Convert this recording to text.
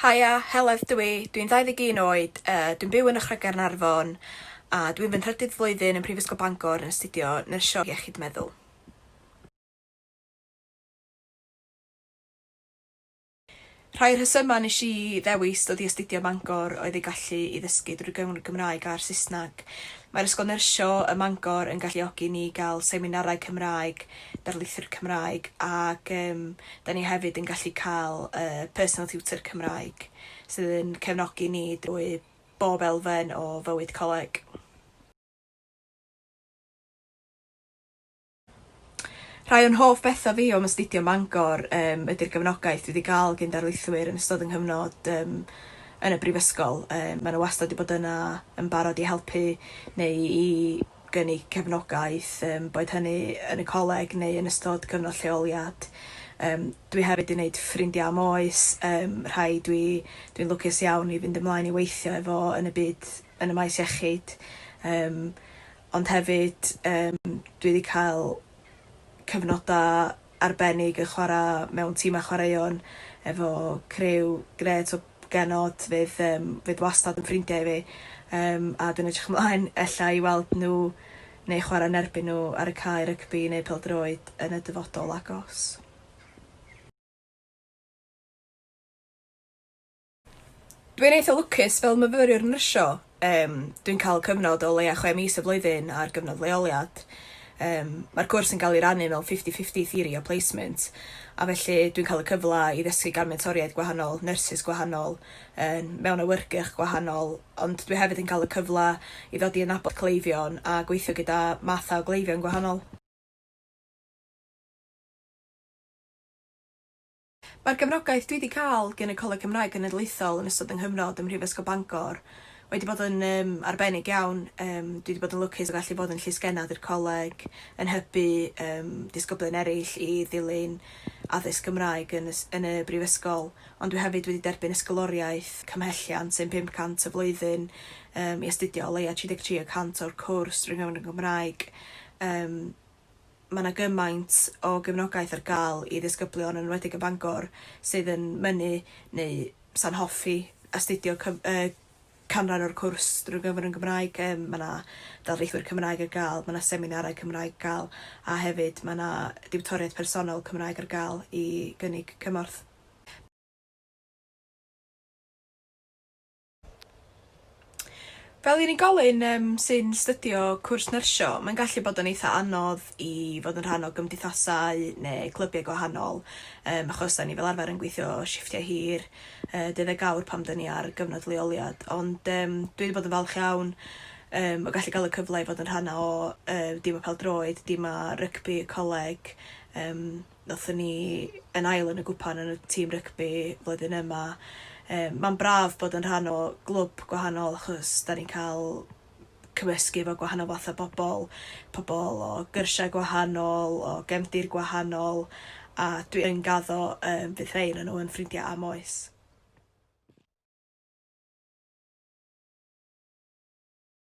Haia, Heledd dw i, dwi'n 21 oed, yy dwi'n byw yn Ychrau Gaernarfon a dwi'n fy nhrydydd flwyddyn yn Prifysgol Bangor yn astudio Nyrsio Iechyd Meddwl. Rhai o'r rhesymau nes i ddewis dod i astudio ym Mangor oedd ei gallu i ddysgu drwy gyfrwng y Gymraeg a'r Saesneg. Mae'r Ysgol Nyrsio ym Mangor yn galluogi ni i gael seminarau Cymraeg, darlithiwr Cymraeg ac yym 'da ni hefyd yn gallu cael yy personal tutor Cymraeg sydd yn cefnogi ni drwy bob elfen o fywyd coleg. Rhai o'n hoff betha fi o'm astudio ym Mangor yym ydi'r gefnogaeth dwi 'di ga'l gin darlithwyr yn ystod 'yn nghyfnod yym yn y brifysgol yym ma' n'w wastad 'di bod yna yn barod i helpu neu i gynnig cefnogaeth yym boed hynny yn y coleg neu yn ystod cyfnod lleoliad. Yym dwi hefyd 'di neud ffrindia am oes yym rhai dwi dwi'n lwcus iawn i fynd ymlaen i weithio efo yn y byd yn y maes iechyd yym ond hefyd yym dwi 'di cael cyfnoda arbennig yn chwara mewn timau chwaraeon efo criw grêt o genod fydd yym fydd wastad yn ffrindiau i fi yym a dwi'n edrych ymlaen ella i weld nhw neu chwara yn erbyn nhw ar y cae rygbi neu pêl-droed yn y dyfodol agos. Dwi'n eitha lwcus fel myfyriwr nyrsio yym dwi'n ca'l cyfnod o leia' chwe mis y flwyddyn ar gyfnod leoliad yym ma'r cwrs yn ga'l 'i rannu mewn fifty fifty theory a placement a felly dwi'n ca'l y cyfla i ddysgu gan mentoriaid gwahanol, nyrsys gwahanol yn mewn awyrgych gwahanol ond dwi hefyd yn ca'l y cyfla i ddod i adnabod cleifion a gweithio gyda mathau o gleifion gwahanol. Mae'r gefnogaeth dwi 'di cael gen y Coleg Cymraeg Genedlaethol yn ystod 'y nghyfnod ym Mhrifysgol Bangor wedi bod yn yym arbennig iawn. Yym dwi 'di bod yn lwcus o gallu bod yn llysgennad i'r coleg, yn hybu yym disgyblion eraill i ddilyn addysg Gymraeg yn y s- yn y Brifysgol, ond dwi hefyd wedi derbyn ysgoloriaeth cymhelliant, sef 500 y flwyddyn, yym i astudio o leia' 33 y cant o'r cwrs drwy gyfrwng y Gymraeg. Yym. mae 'na gymaint o gefnogaeth ar gael i ddisgyblion yn enwedig yn Bangor sydd yn mynnu neu 'sa'n hoffi astudio cyf- yy canran o'r cwrs drwy gyfrwng y Gymraeg. Yym mae 'na darlithwyr Cymraeg ar gael, mae 'na seminarau Cymraeg ar gael a hefyd mae 'na diwtoriaeth personol Cymraeg ar gael i gynnig cymorth. Fel unigolyn yym sy'n 'stydio cwrs nyrsio mae'n gallu bod yn eitha anodd i fod yn rhan o gymdeithasau ne' clybiau gwahanol yym achos 'dan ni fel arfer yn gweithio shifftiau hir yy deuddeg awr pan 'dyn ni ar gyfnod leoliad ond yym dwi 'di bod yn falch iawn yym o gallu ga'l y cyfle i fod yn rhan o yy dîm y pêl-droed dîm a rygbi y coleg yym Noethon ni yn ail yn y gwpan yn y tîm rygbi flwyddyn yma. Yym ma'n braf bod yn rhan o glwb gwahanol achos 'dan ni'n ca'l cymysgu efo gwahanol fath o bobol, pobol o gyrsiau gwahanol, o gefndir gwahanol a dwi yn gaddo yym fydd rhei o'nyn nhw yn ffrindia am oes.